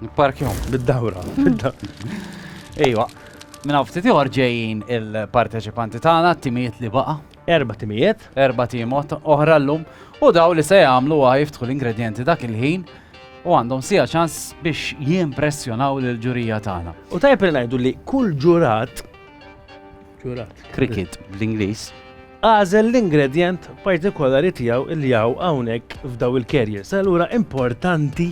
Nipparkjom, bid-dawra. Ejwa, minn hawn ftit ieħor ġejjin il-parteċipanti tagħna, timijiet li baqa'. Erba' timijiet. Erba' timot oħra llum u daw li se jagħmlu wa jiftħu l-ingredjenti dak il-ħin u għandhom sija ċans biex jimpressjonaw l-ġurija tagħna. U tajb li ngħidu li kull ġurat ġurat. Cricket bl-Ingliż. Għażel l-ingredjent partikolari tiegħu il-jaw hawnhekk f'daw il-kerjes. Allura importanti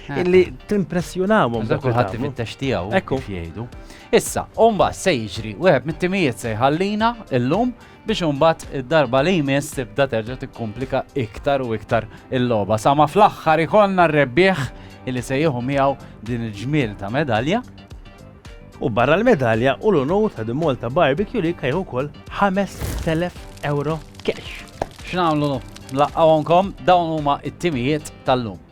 Eh. Illi timpressjonawhom dak kulħadd ifittex tiegħu Ekku. jgħidu. Issa, umba se jiġri wieħed mit-timijiet se jħallina illum biex umbat id-darba li jmiss tibda terġa' tikkumplika iktar u iktar il-logħba. Sama fl-aħħar ikollna r-rebbieħ illi se jieħu miegħu din il-ġmiel ta' medalja U barra l-medalja u l-unur ta' The Malta Barbecue li kajħu kol 5.000 euro cash. X'namlu laqqawonkom dawn huma it-timijiet tal-lum.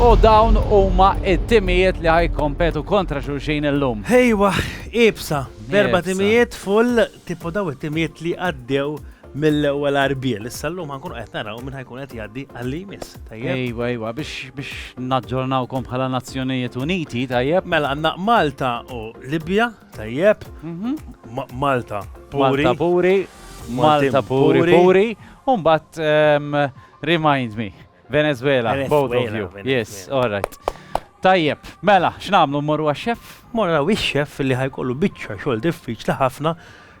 U dawn huma it-timijiet li ħajkompetu kontra xulxin illum. Ejwa, ibsa, berba timijiet full tipo daw it-timijiet li għaddew mill-ewwel arbiel. Issa llum ħankun qed naraw minn ħajkun qed jgħaddi għalli jmiss. Ejwa, ejwa, biex biex naġġornawkom bħala Nazzjonijiet Uniti, tajjeb. Mela għandna Malta u Libja, Tajjeb, mhm. Malta puri. Malta puri, Malta puri puri, un bat ehm, remind me, Venezuela, both of you. Yes, all right. Tajjeb, mela, x'namlu mmorru għax-xef? Morru għax-xef li ħajkollu biċċa xogħol diffiċli ħafna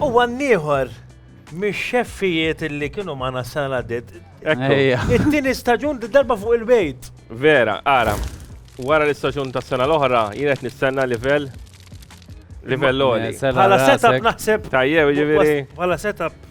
U għan ieħor mix-xeffijiet li kienu magħna s-sena li għaddiet. Ekku. Ejja. It-tieni staġun darba fuq il-bejt. Vera, ara. Wara l-istaġun tas sena l-oħra, jien qed nistenna livell livell oli. Sena Bħala rasek. setup naħseb. Tajjeb, ġifieri. Bħala setup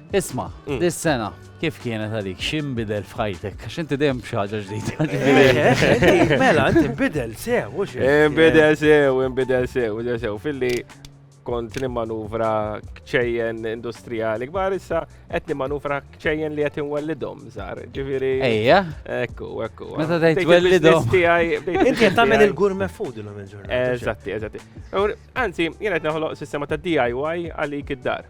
Isma, mm. dis-sena, kif kienet għalik, xim bidel f'ħajtek? Għax inti dejjem b'xaġa ġdida. Mela, inti bidel sew, u xi? Eh, bidel sew, bidel sew, bidel sew. Filli kont nimmanuvra kċejjen industrijali kbar issa qed nimmanuvra kċejjen li qed inwellidhom żgħar. Ġifieri. Ejja. Ekku, ekku. Meta tgħid twellidhom. Inti qed tagħmel il-gourmet food illum il-ġurnata. Eżatti, eżatti. Anzi, jien qed naħloq sistema ta' DIY għalik id-dar.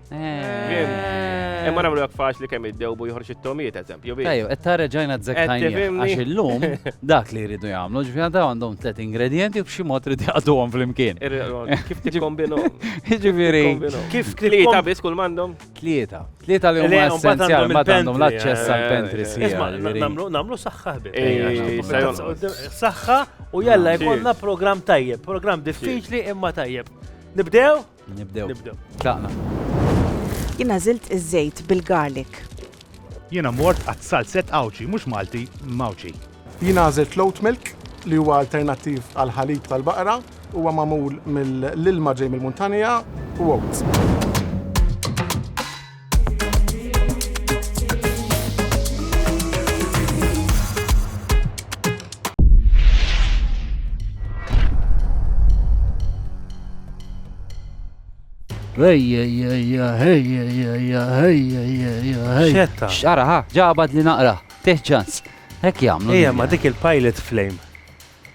Eh. Imma namlu għak faċ li kemm id-dewbu joħroġ it-tomiet, eżempju. Ejju, qed tara ġajna t-zektajni. Għax illum dak li jridu jagħmlu, ġifieri daw għandhom tliet ingredienti b'xi mod trid jaqduhom flimkien. Kif tikkombinu? Ġifieri. Kif tlieta biss kull m'għandhom? Tlieta. Tlieta li huma essenzjali ma għandhom l-aċċess għal eh, pentri eh, sija. Namlu saħħa ħbib. Saħħa u jalla jkollna programm tajjeb, programm diffiċli imma tajjeb. Nibdew? Nibdew. Nibdew. Tlaqna. Jien għażilt iż-żejt bil-garlic. Jiena mort għat salzett Għawdxi, mhux Malti, Mgħawdxi. Jiena għażilt l-oat milk li huwa alternattiv għall-ħalib tal-baqra, huwa magħmul mill-ilma ġej mill-muntanja u oats. Xetta. Xara, ha, ġabad li naqra, teħ ċans. Hekk jagħmlu. Ejja, ma dik il-pilot flame.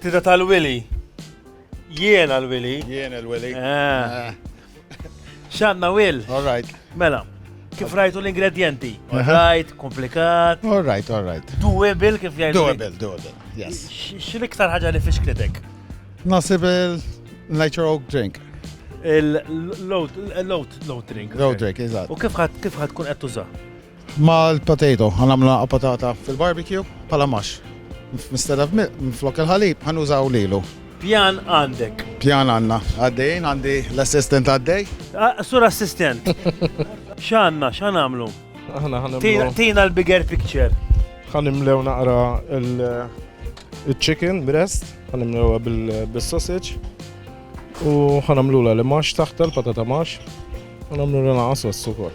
Tita tal-Wili. Jiena l-Wili. Jiena l-Wili. Ah. Xanna Will. All right. Mela. Kif rajtu l-ingredienti? All right, komplikat. All right, all right. Doable kif jgħidu. Doable, doable. Yes. X'l-iktar ħaġa li fixklitek? Nasib il-nature oak drink. Il-load drink. Load drink, eżatt. U kif ħad kif ħad tkun qed tuża? Mal-potato ħa nagħmlu patata fil-barbecue bħala mash. Instead of milk, minflok il-ħalib ħa nużaw lilu. Pjan għandek? Pjan għandna. Għaddejjin għandi l-assistant għaddej. Sur assistant. X'għandna, x'għan nagħmlu? Aħna ħa nagħmlu. Tina l-bigger picture. Ħa nimlew naqra il-chicken breast, ħa nimlewha bil-sausage u ħanamlu la li max taħta l-patata max, ħanamlu la naqas wassu kol.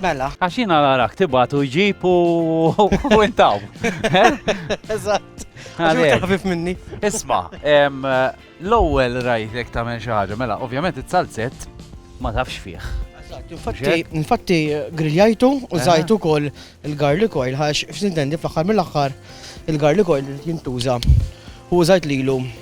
Mela. Għax jiena narak tibgħat u jġib u intaw. Eżatt. Ħafif minni. Isma, l-ewwel rajtek tagħmel xi ħaġa, mela, ovvjament it-salzett ma tafx fih. Infatti griljajtu u zajtu kol il-garlic oil, għax f-sintendi fl-axar mill-axar il-garlic oil jintuża. U zajt lilu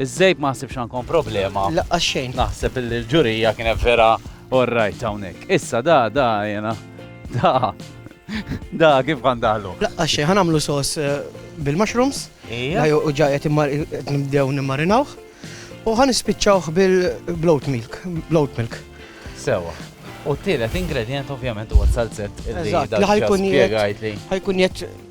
Iż-żejb ma ħsibx għandkom problema. Laqqas xejn. Naħseb illi l-ġurija kienet vera orrajt hawnhekk. Issa da da jena. Da. Da kif kan daħlu. Laqqas xejn ħanamlu sos eh, bil-mushrooms. Ija. U ġajet nibdew nimmarinawh. U ħan ispiċċawh bil-bloat milk. Bloat milk. Sewa. U t-tielet ingredient ovvjament huwa salzet. Eżatt, li ħajkun jgħid. Ħajkun jgħid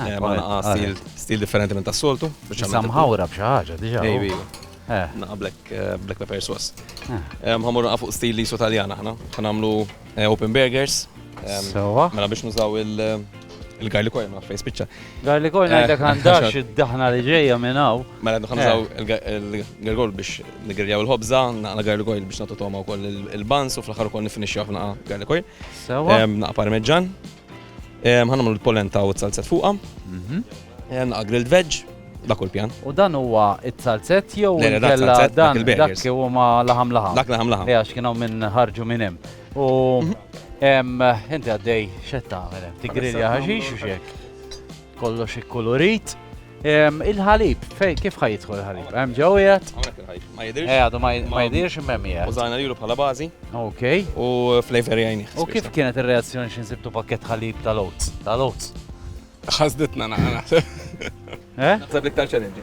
Naqa stil, stil differenti minn tas-soltu. Issa mħawra b'xi ħaġa diġà. Maybe. Naqa black, black pepper sauce. Ħammur naqa fuq stil lisu Taljan aħna. Ħa nagħmlu open burgers. Sewwa. Mela biex nużaw il-garlic oil ma fejn spiċċa. Garlic oil ngħidlek għandax id-daħna li ġejja minn hawn. Mela ħa nużaw il-garlic oil biex nigriljaw il-ħobża, naqa garlic oil biex nagħtu togħma wkoll il-buns u fl-aħħar ukoll nifinixxu naqa garlic oil. Sewwa. Naqa parmeġġan. Ħanamlu l-polenta u t-salzet fuqha. Naqa grilled veg, dak u l-pjan. U dan huwa it-salzet jew kella dan dak li huma laħam laħam. Dak laħam laħam. Għax kienu minn ħarġu minn hemm. U mhm. inti għaddej xetta għamel, tigrilja ħaxix u xek. Kollox ikkulurit. Il-ħalib, fej, kif ħaj jidħol il-ħalib? Hemm ġew jgħat? Hawnhekk il-ħalib. Ma jidirx. Eh, għadu ma jidirx imem jgħat. Użajna lilu bħala bażi. Ok. U flavor jgħini. U kif kienet ir-reazzjoni xi nsibtu pakket ħalib tal-oats? Tal-oats. Ħasditna naħseb. Eh? Naħseb l-iktar challenge.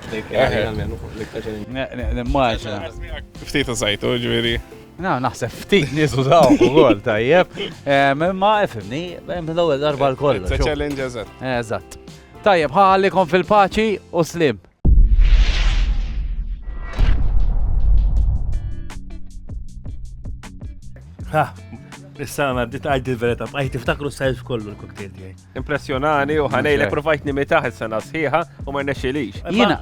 Nimmaġina. Eh, ftit użajtu, ġifieri. Na, naħseb ftit nies użaw ukoll tajjeb. Eh, ma efimni, l-ewwel darba l-kollu. It's a challenge, eżatt. Eżatt. Tajjeb, ħa għallikom fil-paċi u slim. Ha, issa għana bdiet għajt il-verita, għajt tiftakru s-sajf kollu l-koktel tiegħi. Impressjonani u ħanejlek provajt nimitaħ is-sena sħiħa u ma rnexxilix. Jiena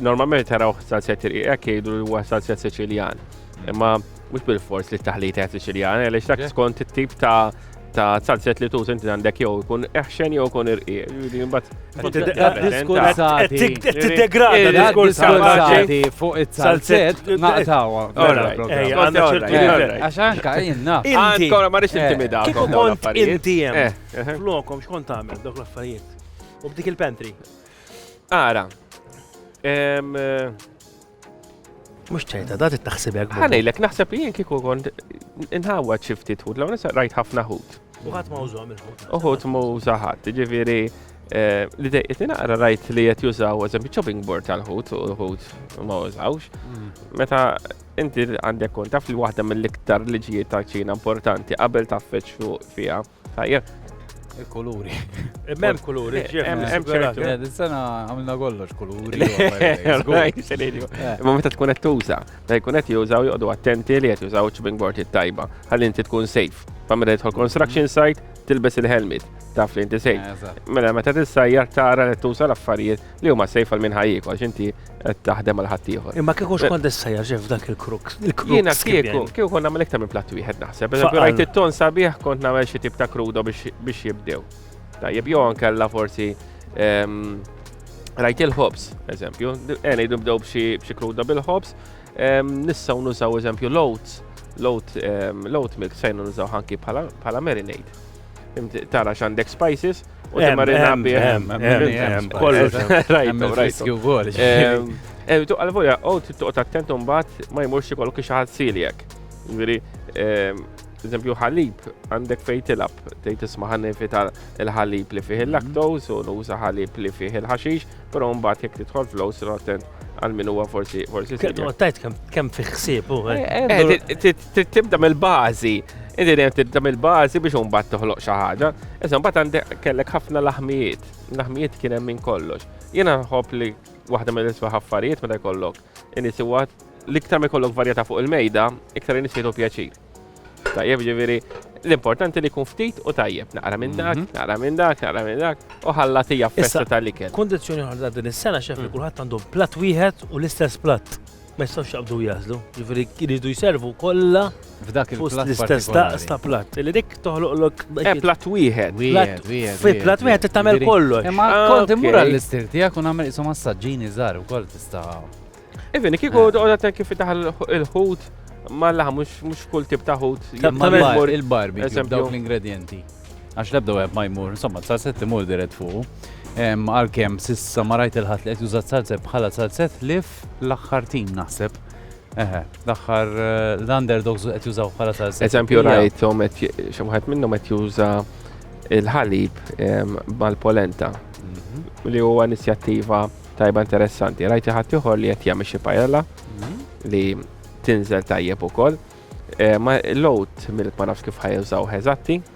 Normalment taraw salzjat irqiq jgħidu li huwa salzjat Siċiljan. Imma mhux bil-fors li t-taħlita qed Siċiljan, għaliex dak skont it-tip ta' ta' salzjat li tuż inti għandek jew ikun eħxen jew ikun irqiq. Jiġifieri imbagħad Tiddegrada diskursati fuq it-salzet naqtawa. Għax anka jenna. Inti, ma rix intimida. Eh, Kiku kont inti jem. Eh, eh. Flokom, xkont għamil dok l-affarijiet. U b'dik il-pantry. Ara. Mux ċerta, da t-taxsibek. Għanajlek, naħseb li jien kiku kont inħawad xifti tħut, law nisa rajt ħafna ħut. Uħat ma użom il-ħut. Uħut ma użaħat, ġiviri, eh, li dejqet naqra rajt li jett jużaw, eżempju, chopping board tal-ħut, u l-ħut ma użawx. Mm. Meta inti għandek kont taf li waħda mill-iktar liġijiet ta' ċina importanti qabel ta' feċ fuq fija. Tajjeb. Il-kuluri. Mem kuluri, Hemm ċertu. Eh, dis-sena għamilna kollox kuluri. Imma meta tkun qed tuża, ta' jkun qed jużaw joqogħdu attenti li qed jużaw ċibing board it-tajba. Ħalli inti tkun safe. Fa meta jidħol construction site, tilbes il-helmet taf li inti sejf. Eh, mela meta tissajjar tara li tuża l-affarijiet li huma sejf għal minn ħajjik għax inti qed taħdem għal ħaddieħor. Imma kieku xkont issejjaħ ġef dak il-kruk. Jiena kieku kieku kont nagħmel iktar minn platt wieħed naħseb. Rajt it-ton sabiħ kont nagħmel xi tip ta' krudo biex jibdew. Tajjeb jew ankella forsi ehm, rajt il-ħobs, eżempju, għena jidu bdew b'xi kruda bil-ħobs, ehm, nissaw nużaw eżempju l-oats, l-oat ehm, milk fejn nużaw ħanki bħala marinade. Tara x'għandek spices u timmarina bih. Kollu rajtu riskju wkoll. Ehm, tu għal-volja, u t-tuqt attent un bat ma jmurx kollu kiex ħad siljek. Veri, ehm, eżempju ħalib, għandek fej tilab, tejt isma ħanni fita l-ħalib li fih il-laktoz u nuża ħalib li fih il-ħaxix, pero un bat jek titħol flows, attent għal-min huwa forsi. Għattajt kem fiħsib, u. Eh, eh, eh, Trid tibda mill-bażi. Inti dejjem tibda mill-bażi biex imbagħad toħloq xi ħaġa. Issa mbagħad għandek kellek ħafna laħmijiet. Laħmijiet kien hemm minn kollox. Jiena nħobb li waħda mill-isbaħ affarijiet meta jkollok inis huwa l-iktar ma jkollok varjetà fuq il-mejda, iktar inis jgħidu pjaċir. Tajjeb ġifieri l-importanti li jkun ftit u tajjeb, naqra minn dak, mhm. naqra minn dak, naqra minn dak, u ħalla tija festa tal-ikel. Kondizzjoni ħarda din is-sena xef li mm. kulħadd għandu platt wieħed u l-istess platt. ma jistgħux jaqbdu jażlu, jiġifieri jridu jservu kollha f'dak l-istess daqs ta' platt. Li dik toħloqlok eh, platt wieħed. Fi platt wieħed tagħmel kollox. Imma eh, kont immur għall-istil tiegħek u nagħmel isu massaġġini żgħar ukoll tista'. Even eh, kieku għodha kif taħal il-ħut ma laħ mhux kull tip ta' ħut. Il-barbi, dawk l-ingredienti. Għax lebda web ma jmur, insomma, sa' setti mur dirett fuq. Għalkemm sissa ma rajt il-ħadd li qed jużat salzet bħala salzet lif L-aħħar tim naħseb. Eħe, l-aħħar l-underdogs qed jużaw bħala salsa. Eżempju rajthom qed xi wieħed minnhom qed juża il-ħalib mal-polenta mhm. li huwa inizjattiva tajba interessanti. Rajti ħadd ieħor li qed jagħmel xi pajella mhm. li tinżel tajjeb ukoll. Ma l-out milk ma nafx kif ħajużaw eżatti.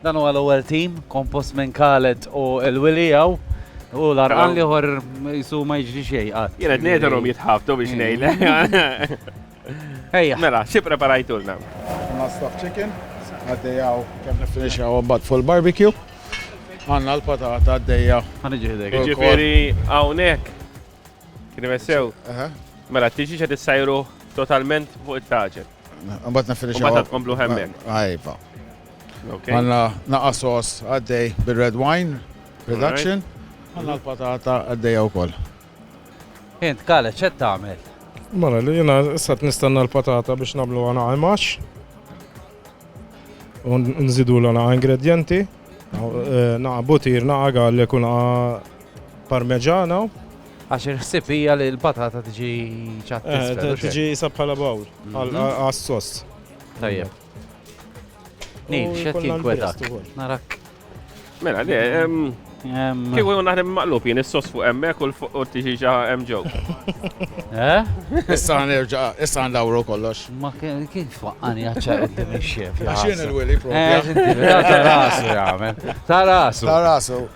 Dan huwa l-ewwel tim kompost minn Khaled u l-Willy hawn. U l-arqan li ħor jisu ma jġri xej għad. Jena d-nedarom jitħabtu biex nejle. Ejja. Mela, xie preparajtulna? Għanna stuff chicken, għaddejaw kem nifinixaw għabbat full barbecue. Għanna l-patata għaddeja. Għanna ġiħdek. Ġifiri għawnek. Kien sew. Mela, t-tiġi ċed sajru totalment fuq il-taġel. Mbagħad niffinixxu. Mbagħad tkomplu hemmhekk. Ajva. Għandna naqa' sos għaddej bir-red wine production. Għandna l-patata għaddejja wkoll. Int kale ċed tagħmel? Mara li jiena issa nistenna l-patata biex nagħmlu għana għajmax. U nżidu l-għana ingredjenti. Eh, naqa' butir, naqa' għalli kuna Parmeġana. Għax il-ħsib hija li l-patata tiġi ċat. Eh, tiġi sa bħala bawl mhm. għas-sost. Tajjeb. Nil, xed jinkwetak. Narak. Mela, le, Kieku jgħu naħdem maqlub jien is-sos fuq emmek u l-fuq u tiġi ġa hemm ġew. Eh? Issa nerġa' issa ndawru kollox. Ma kien twaqqani għaċċar qudiem ix-xef. Għax jien il-wili propja. Eh, ta' rasu jagħmel. Ta' rasu. Ta' rasu.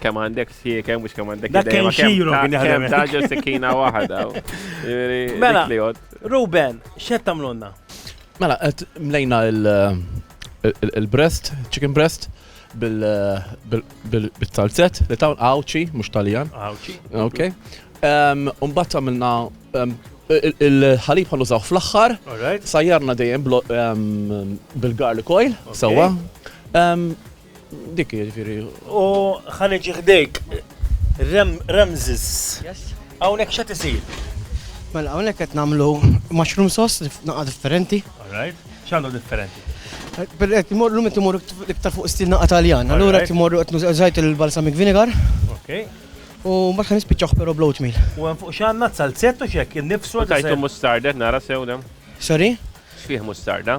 Kemm għandek siekem, mhux kemm għandek Dak kien xiru kien jaħdem. Taġel sikkina waħda. Mela, Ruben, x'qed tagħmlulna? Mela, qed mlejna il-breast, chicken breast bil-talzet li tawn għawċi, mux taljan. Għawċi. Ok. Umbat għamilna il-ħalib għan użaw fl-axħar. Sajjarna dejjem bil-garlic oil, sawa. Dik hi jiġifieri. U ħa niġi ħdejk. Ramses. Yes. Hawnhekk x'qed isir? Mela hawnhekk qed nagħmlu mushroom sauce naqa' differenti. All right. X'għandu differenti? Qed imorru meta imorru iktar fuq stil naqa' Taljan. Allura qed imorru qed nużajt il-balsamic vinegar. Okay. U ma ħan nispiċċaħ però bloat meal. U hemm fuq x'għandna salzett u x'hekk innifsu. Tajtu mustarda nara sew Sorry? X'fih mustarda?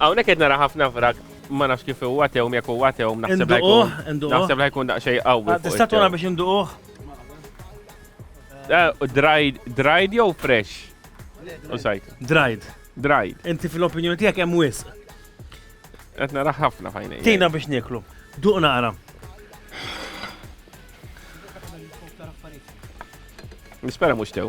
Hawnhekk qed nara ħafna vrak ma nafx kif huwa tewm jekk huwa tewm naħseb li jkun. Naħseb li jkun daqsxejn qawwi. Ah, tista' tura biex induquh? Eh, dried, dried jew fresh? U sajt. Dried. Dried. Inti fil-opinjoni tiegħek hemm wisq. Qed nara ħafna fajnej. Tina biex nieklu. Duq naqra. Nispera mhux tew.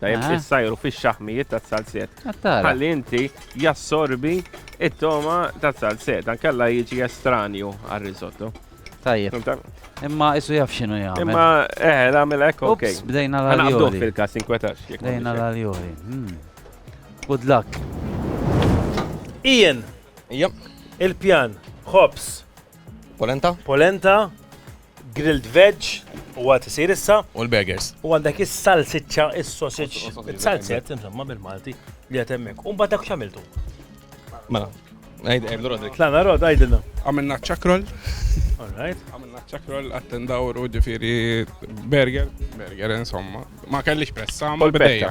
Tajjeb Aha. issajru fix-xaħmijiet taz-salzett. Attara. Ħalli inti jassorbi it-toma taz-salzett, ankella jiġi estranju għar-risotto. Tajjeb. Fimta? Imma isu jaf xinu jagħmel. Imma eh, nagħmel hekk ok. Ups, bdejna Ħana għabduh l-aljoli. fil-każ inkwetax. jekk Bdejna m'għandix l-aljoli. Hmm. Good luck. Ian, Ija, il-pjan, ħobs, polenta, polenta, Grilled veg u għad isir issa. U l-burgers. U għandek is-salsiċċa, is-sausage, is-salzett, insomma bil-Malti li għad hemmhekk. U mbagħad dak x'għamiltu? Mela, għidlu Rodri. Tlana Rod, għidilna. Għamilna ċakrol. All right. Għamilna ċakrol attendawru ġifieri burger, burger insomma. Ma kellix pressa, ma bdejja.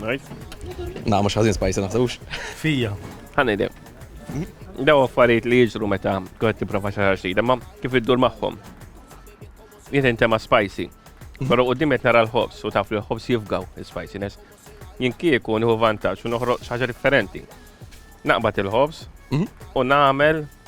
Right. Na, mux ħazin spajsa naħsebux. Fija. Ħanajde. Daw affarijiet li jiġru meta kħed tiprofa xaħar xejn, imma kif iddur magħhom. Jiet inti ma' spicy. Però u dimet nara l-ħobs u taf li l-ħobs jifgaw il-spiciness. Jien kieku nieħu vantaġġ u noħroq xaġa differenti. Naqbad il-ħobs mhm. u nagħmel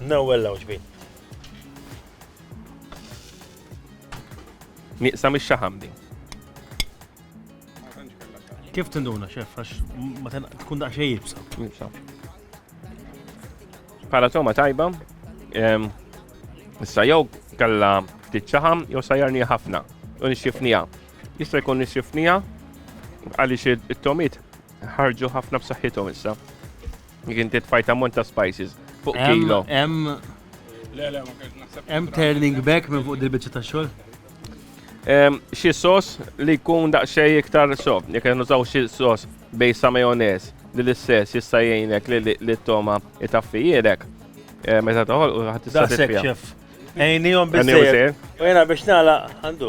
Nawel law ġbin. Nieqsa mix-xaħam din. Kif tinduna xef, għax ma tkun daqxej jibsa. Jibsa. Pala toma tajba, issa jew kalla ftit ċaħam, jew sajjarni ħafna, u nixxifnija. Jista' jkun nixxifnija għaliex it-tomit ħarġu ħafna b'saħħithom issa. Jek inti tfajt ammont ta' spices fuq kilo. Hemm hemm turning back minn fuq dil-biċċa ta' xogħol. Xi sos li jkun daqsxejn iktar sob, jekk qed nużaw xi sos bej sa majonez li l-istess jista' jgħinek li t-toma itaffijilek. Meta toħol u ħadd tista' tiffiha. Ejnihom biżejjed. U jiena biex nagħlaq għandu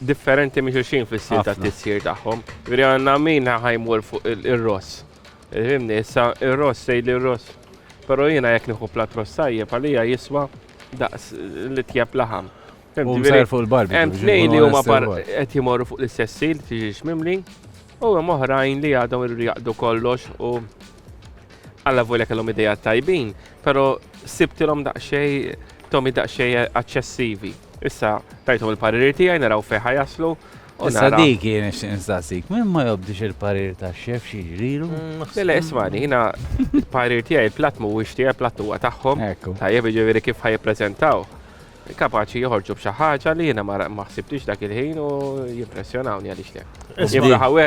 differenti minn xulxin fis-stil ta' tissir tagħhom. Veri għandna min ħa jmur fuq ir-ross. Fimni, issa ir-ross sejli li r-ross. Però jiena jekk nieħu plat ross tajjeb għalija jiswa daqs li tjeb laħam. Hemm tnejn li huma qed jimorru fuq l-istess sil, tiġix mimli, U hemm oħrajn li għadhom iridu jaqdu kollox u alla volja kellhom idea tajbin, però sibtilhom daqsxej tomi daqsxej aċċessivi. Issa tajthom il-pariri tiegħi naraw fejn ħajaslu. Issa dik jien nistaqsik, min ma jobdix il-parir ta' xef xi ġrilu? Mm, Lele, ismani, jina il-parir tiegħi il-platt mhuwiex tiegħi, platt huwa tagħhom. Tajjeb jiġifieri kif ħajjippreżentaw. Kapaċi joħorġu b'xi ħaġa li jiena ma ħsibtix dak il-ħin u jimpressjonawni għaliex le. Jimra ħawe.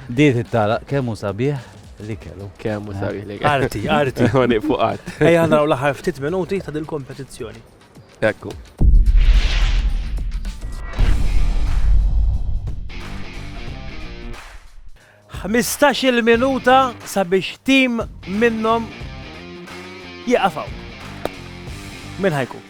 Diet it-tala kemm hu sabiħ li kellu. Kemm hu sabiħ li kellu. Arti, arti. Għoni fuq art. Ejja naraw l-aħħar ftit minuti ta' dil-kompetizzjoni. Ekku. Ħmistax-il minuta sabiex tim minnhom jieqaf hawn. Min ħa jkun?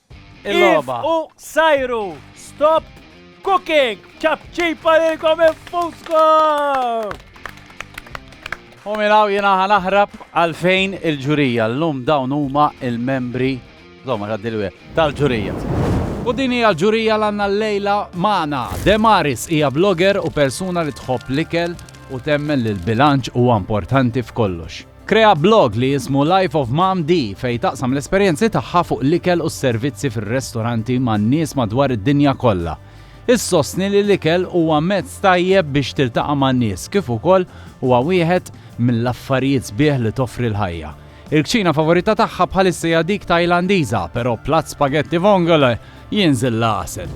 Il-logħba. U sajru, stop cooking, ċapċipa lilkom infuskom! U milaw jena ħanaħrab għalfejn il-ġurija l-lum dawn huma il-membri tal-ġurija. U din hija l-ġurija l-għanna l-lejla maħna. Demaris hija blogger u persuna li tħobb l-ikel u temmen li l-bilanċ huwa importanti f'kollox. Krea blog li jismu Life of Mom Dee fejn taqsam l-esperjenzi tagħha fuq l-ikel u s-servizzi fir-restoranti man-nies madwar id-dinja kollha. Issostni li l-ikel huwa mezz tajjeb biex tiltaqa' man-nies kif ukoll huwa wieħed mill-affarijiet sbieħ li toffri l-ħajja. Il-kċina favorita tagħha bħalissa hija dik Tajlandiża, però platt spagetti vongole jinżil l-għasel.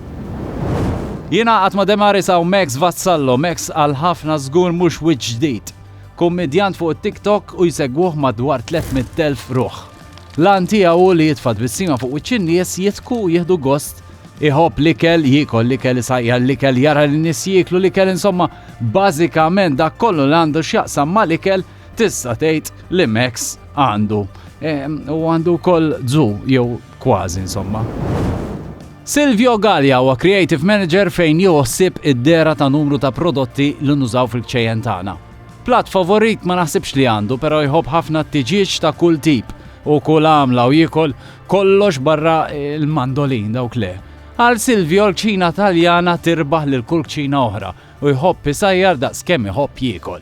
Jingħaqad ma' Demaris hawn Max Vassallo, Max għal ħafna żgur mhux wiċċ ġdid. Kummedjant fuq it-TikTok u jsegwuh madwar 300,000 ruħ. L-għan tiegħu hu li jitfa' tbissima fuq wiċċ in-nies, jidhku u jieħdu gost. Iħobb l-ikel, jiekol l-ikel, isajjar l-ikel, jara lin-nies jieklu l-ikel, insomma, bażikament dak kollu li għandu x'jaqsam mal-ikel tista' tgħid li Max għandu. Ehm, u għandu wkoll zu jew Kważi insomma. Silvio Galea huwa Creative Manager fejn jieħu ħsieb id-dehra ta' numru ta' prodotti li nużaw fil-kċejjen tagħna. Platt favorit ma naħsibx li għandu però jħobb ħafna t-tiġieġ ta' kull tip u kull għamla u jiekol kollox barra l-mandolin dawk le. Għal Silvio l-kċina Taljana tirbaħ lil kull kċina oħra u jħobb isajjar daqs kemm iħobb jiekol.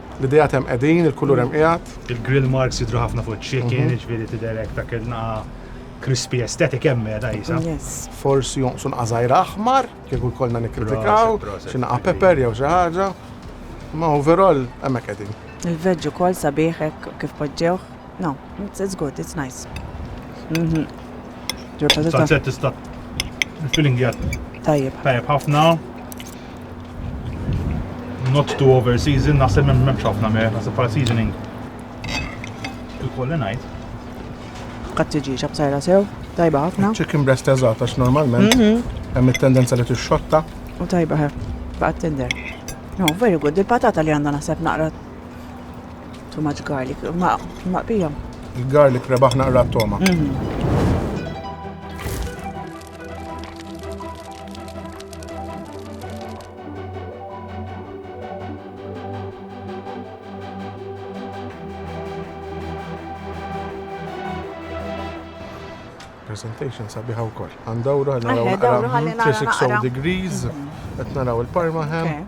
L-ideat hemm qegħdin, il-kulur hemm qiegħed. Il-grill marks jidhru ħafna fuq iċ-chicken, jiġifieri tidher hekk dak il-naqa' crispy aesthetic hemm qiegħda qisha. Forsi jonqsu naqa' żgħira aħmar, kieku jkollna nikkritikaw, xi naqa' pepper jew xi ħaġa. Imma overall hemm hekk qegħdin. Il-veg ukoll sabiħ hekk kif poġġewh. No, it's good, it's nice. Salzett tista' il-filling qiegħed tajjeb ħafna. Not too over season, naħseb minn memx ħafna mer, naħseb bħala seasoning. Il-kolli najt. Kattġi ċabtajra sew, tajba ħafna. Chicken breast eżat, għax normalment, mhm. hemm il-tendenza li t-xotta. U tajba ħef, baqat tender. No, very good, il-patata li għandha naħseb naqra too much garlic, ma' pijom. Il-garlic rebaħ naqra t-toma. Mhm. presentation sabiħa u koll. Għandawru għal 360 degrees, għet naraw il-parma ħem.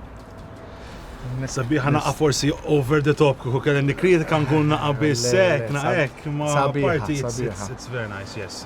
Sabiħa naqa forsi over the top kuku kellem nikritika nkun naqa bissek, naqek, ma parti it's very nice, yes.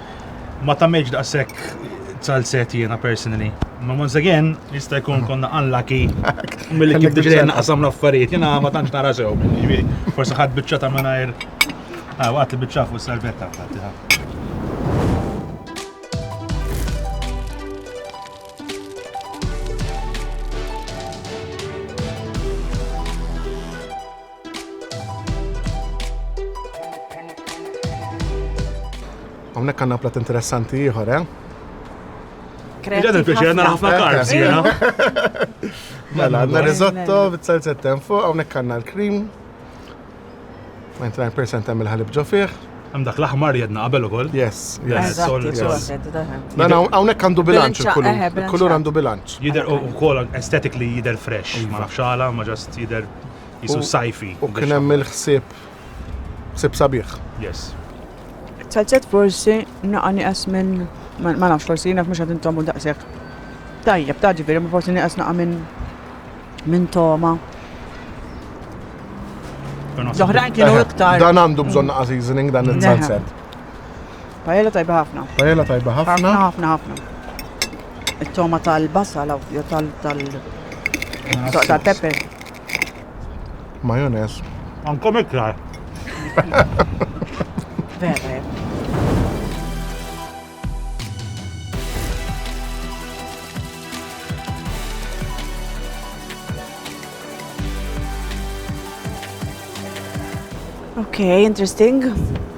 ma tagħmilx daqshekk salset jiena personally. Ma once again, jista' jkun konna unlucky mill-li kif diġa naqsam l-affarijiet, jiena ma tantx nara sew, jiġifieri, forsi ħadd biċċa ta' mingħajr. Ah, waqt li biċċa fuq salvetta fatti Hawnhekk għandna plat interessanti ieħor, eh? Ġad il-pieċi għanna ħafna karbs, jena. Mela, għanna risotto, bit-salzetten fuq, għawnek għanna l-krim. 99% għamil ħalib ġo fih. Għam dak l-aħmar jedna qabel ukoll. Yes, yes. Dan hawnhekk għandu bilanċ il-kulur. Eh, il-kulur għandu bilanċ. Jider ukoll aesthetically jider fresh, ma nafx ma ġast jider jisu sajfi. U kien hemm il-ħsieb ħsieb sabiħ. Yes. Salzet forsi naqa niqas minn ma nafx forsi jiena mhux qed intomu daqshekk. Tajjeb, ta' ġifieri ma forsi niqas naqa minn minn toma. L-oħrajn kienu iktar. Dan għandu bżonn naqa seasoning dan il-salzet. Pajella tajba ħafna. Pajella tajba ħafna. Ħafna ħafna ħafna. It-toma tal-basal aw jew tal tal soq tal-pepper. Majonez. Ankom iktar. Vera. Okay, interesting.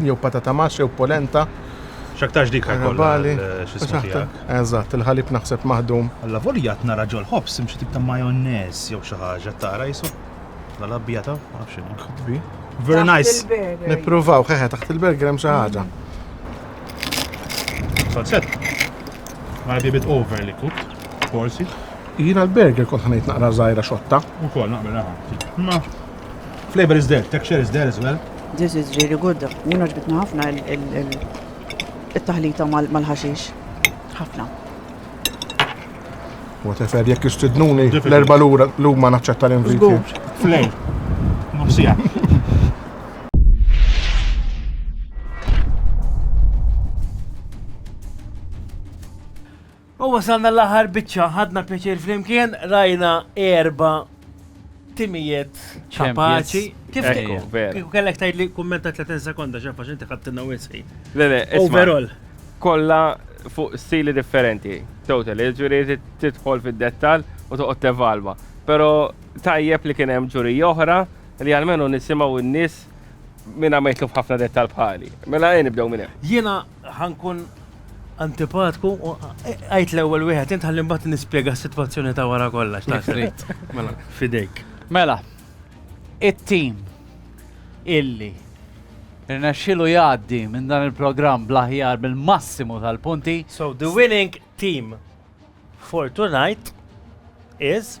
jew patata max jew polenta. X'aktarx dik ħajkollha x'ismu fiha. Eżatt, il-ħalib naħseb maħdum. Alla volja qed nara ġol-ħobż hemm xi tip ta' majonez jew xi ħaġa qed tara qisu? Alla l-abjad hawn ma nafx x'inhu. Could be. Very nice. Nippruvaw, ħeħe taħt il-burger hemm xi ħaġa. Salzett. Might be a bit overly cooked, forsi. Jiena l-burger kont ħanejt naqra żgħira xotta. Ukoll naqbel aħna. Ma Flavor is there, texture is there as well. This is really good. Jina ġbitna ħafna il-taħlita mal-ħaxix. ħafna. Whatever, jekk istidnuni l-erba l-lum ma naċċetta l-inviti. Flej, nofsija. U wasalna l-aħħar biċċa, ħadna pjaċir flimkien, rajna erba' timijiet kapaċi. Kif kieku kellek tgħid li kummenta 30 sekonda xafa x'inti ħadtilna wisħi. Le le, overall. Kollha fuq stili differenti, total, ġuri tidħol fid-dettal u toqgħod tevalwa. Però tajjeb li kien hemm ġuri oħra li għalmenu nisimgħu n-nies minn għamajtlu f'ħafna dettal bħali. Mela għajn nibdew minn hemm. Jiena Ħa nkun antipatku u għajt l-ewwel wieħed int ħalli mbagħad nispjega s-sitwazzjoni ta' wara kollox ta' trid. Mela, fidejk. Mela, it-tim illi rnexxilu jgħaddi minn dan il-programm bl-aħjar bil-massimu tal-punti. So the winning team for tonight is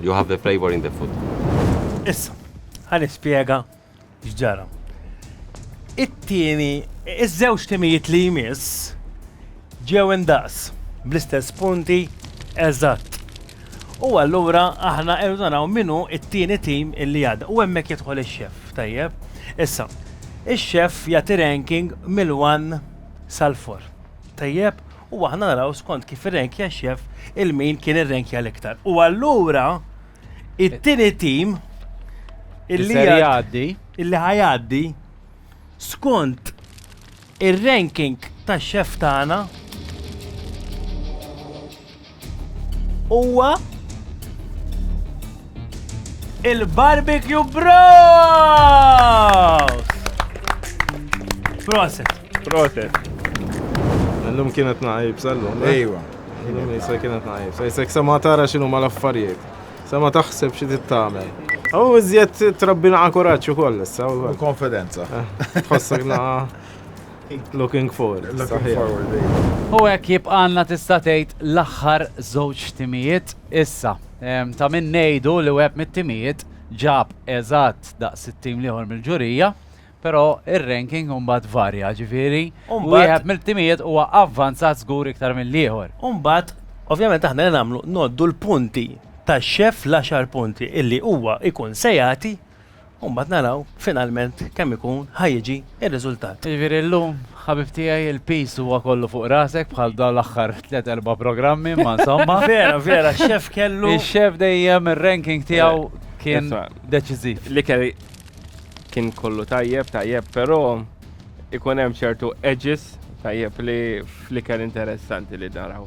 You have the flavor in the food. Issa, ħan ispjega x'ġara. It-tieni, iż-żewġ timijiet li jmiss ġew indaqs bl-istess punti eżatt. U allura aħna irdu naraw minnu it-tieni tim illi għadda. U hemmhekk jidħol ix-xef, tajjeb. Issa, ix-xef jagħti ranking mill-1 sal-4. Tajjeb, u aħna naraw skont kif irrenkja x-xef il-min kien irrenkja l-iktar. U allura it-tieni tim illi jgħaddi illi ħajaddi skont ir-ranking tax-xef tagħna Huwa il-Barbecue Bros! Proset. Proset. L-lum kienet naħib, sal-lum. Eh? Ejwa. L-lum jisa kienet naħib. Sa jisek sama tara xinu ma l-affarijiet. Sama taħseb xie tittamel. Għaw iżjed trabbina għakuraċu koll, sa' u konfidenza. Eh, tħossek naqa. Looking forward, saħiħ. U hekk jibqgħalna tista' tgħid l-aħħar żewġ timijiet issa. Ta' min ngħidu li wieħed mit-timijiet ġab eżatt daqs it-tim l-ieħor mill-ġurija, però r-ranking imbagħad varja, ġifieri wieħed mill-timijiet huwa avvanzat żgur iktar mill-ieħor. U mbagħad, ovvjament aħna li nagħmlu ngħoddu l-punti tax-xef, l-għaxar punti li huwa jkun se jagħti U mbagħad naraw finalment kemm ikun ħa jiġi r-riżultat. Jiġifieri llum, ħabib tiegħi, il-piż huwa kollu fuq rasek bħal dawn l-aħħar tliet erba' programmi, imma insomma. Vera, vera, x-xef kellu. Ix-xef dejjem ir-ranking tiegħu kien deċiżiv. L-ikel kien kollu tajjeb, tajjeb, però ikun hemm ċertu edges tajjeb li fl-ikel interessanti li naraw.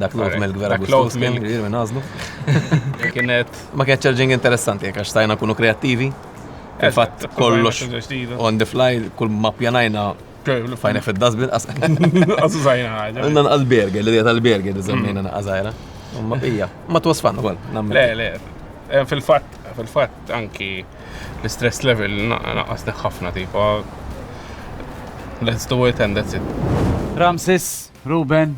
Dak l-old milk vera għustus kien kbir minn għazlu. Kienet. Ma kienet ċarġing interessanti, jek għax stajna kunu kreativi. Fil-fat kollox on the fly, kull ma pjanajna fajna fil-dasbin. Għazu zajna ħagħa. Għanna nqal-berger, l-idea tal-berger li zammina naqazajra. Ma bija, ma twasfan għol. Le, le, eh, fil-fat, fil-fat anki l-stress level naqasni ħafna tipo. Let's do it and that's it. Ramses, Ruben,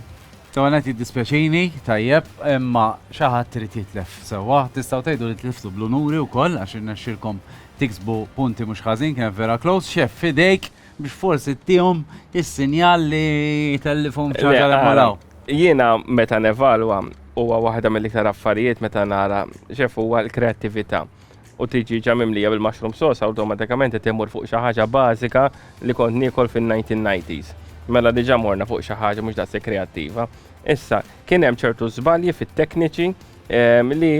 L-ewwel nett jiddispjaċini, tajjeb, imma xi ħadd irid jitlef sewwa. Tistgħu tgħidu li tliftu bl-unuri wkoll għax irnexxielkom tiksbu punti mhux ħażin, kienet vera close. Xeff, f'idejk biex forsi tihom is-sinjal li tellifhom xi ħaġa li malaw. Jiena meta nevalwa huwa waħda mill-iktar affarijiet meta nara xeff huwa l-kreattività. u tiġi ġa mimlija bil-mushroom sauce awtomatikament qed immur fuq xi ħaġa bażika li kont niekol fin-1990s. Mela diġà morna fuq xi ħaġa mhux daqshekk kreattiva. Issa, kien hemm ċertu żbalji fit-tekniċi ehm, li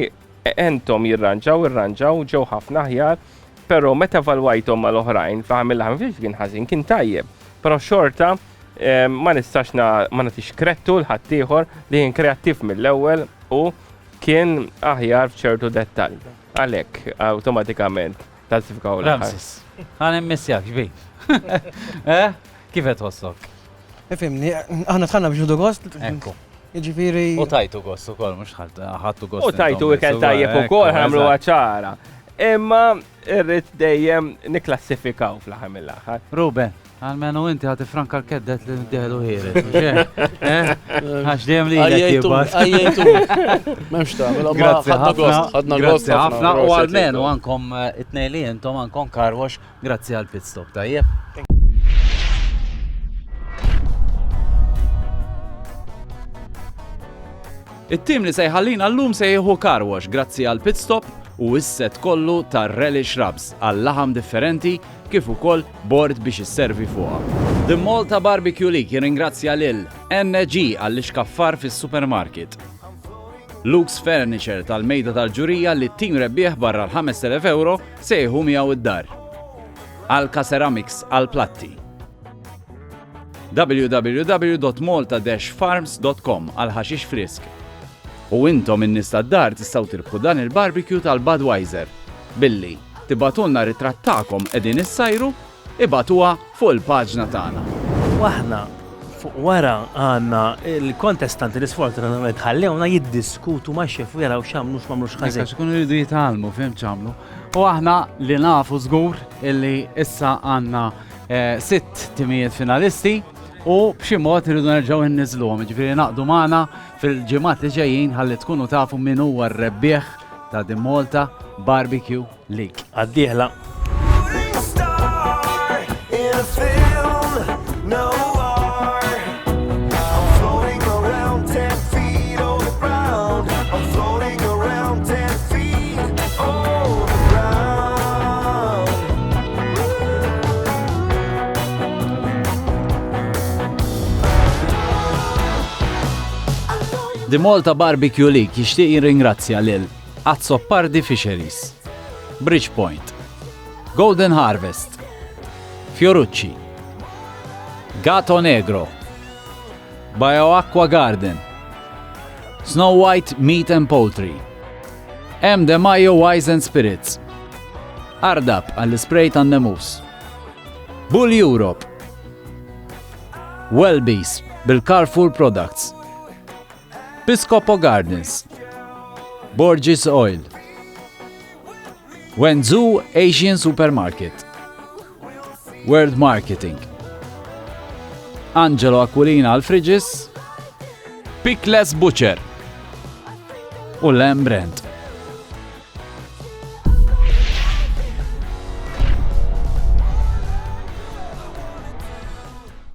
entom jirranġaw, irranġaw, ġew ħafna aħjar, però meta valwajthom mal-oħrajn, fl-aħħar mill-aħħar mhux kien ħażin, kien tajjeb. Però xorta ehm, ma nistax ma nagħtix krettu l-ħaddieħor li kien kreattiv mill-ewwel u Kien aħjar f'ċertu dettall. Għalhekk, awtomatikament, tal-sifka u Ramses, għan immissjak, ġbik. Eh? Kif qed tħossok? Ifimni, aħna tħanna biex nudu gost. Ekku. Ġifiri. U tajtu gost ukoll, mhux ħadtu gost. U tajtu ikel tajjeb ukoll ħamlu ċara. Imma Irrid dejjem niklassifikaw fl-aħħar mill-aħħar. Ruben, għalmenu inti ħati franka l-keddet li d-delu ħiri. Eh? Għax dejjem li jgħajtu. Għajtu. Memx ta' mela ma ħadna gost. Ħadna gost. ħafna u għalmenu għankom eh, it-nej li jentom għankom karwax grazzi għal pit stop tajjeb. It-tim li se jħallina llum se jieħu car wash grazzi għal pit stop u s-set kollu ta' relish rubs għal laħam differenti kif ukoll bord biex isservi fuqha. The Malta Barbecue League jirringrazzja lil NG għall-ixkaffar fis-supermarket, Luke's Furniture tal-Mejda tal-Ġurija li t-tim rebbieħ barra l-€5,000 se jieħu miegħu d-dar, Alka Ceramics għall-platti, www.malta-farms.com għal ħaxix frisk. U intom in-nies tad-dar tistgħu tirbħu dan il-barbecue tal-Budweiser billi tibatulna ritratt tagħkom qegħdin issajru ibatuha fuq il-paġna tagħna. Waħna fuq wara għandna il-kontestanti li sfortunatament ħallewna jiddiskutu ma' xef u jaraw x'għamlu x'mamlu x'ħażin. Għax ikunu jridu jitgħallmu fim ċamlu. U aħna li nafu żgur illi issa għandna eh, sitt timijiet finalisti u b'xi mod irridu nerġgħu nniżluhom, ġifieri naqdu magħna fil-ġimgħat li ġejjin ħalli tkunu tafu min huwa r-rebbieħ ta' din Malta Barbecue League. Għaddieħla. The Malta Barbecue League jixtieq jirringrazzja lil Azzopardi Fisheries, Bridgepoint, Golden Harvest, Fiorucci, Gato Negro, Bioacqua Garden, Snow White Meat and Poultry, M. De Mayo Wise and Spirits, Ardab għall-ispray tan-nemus, Bull Europe, Wellbees bil-Carrefour Products. Piscopo Gardens, Borges Oil, Wenzhou Asian Supermarket, World Marketing, Angelo Aquilina Alfridges, Pickless Butcher u Lamb Brand.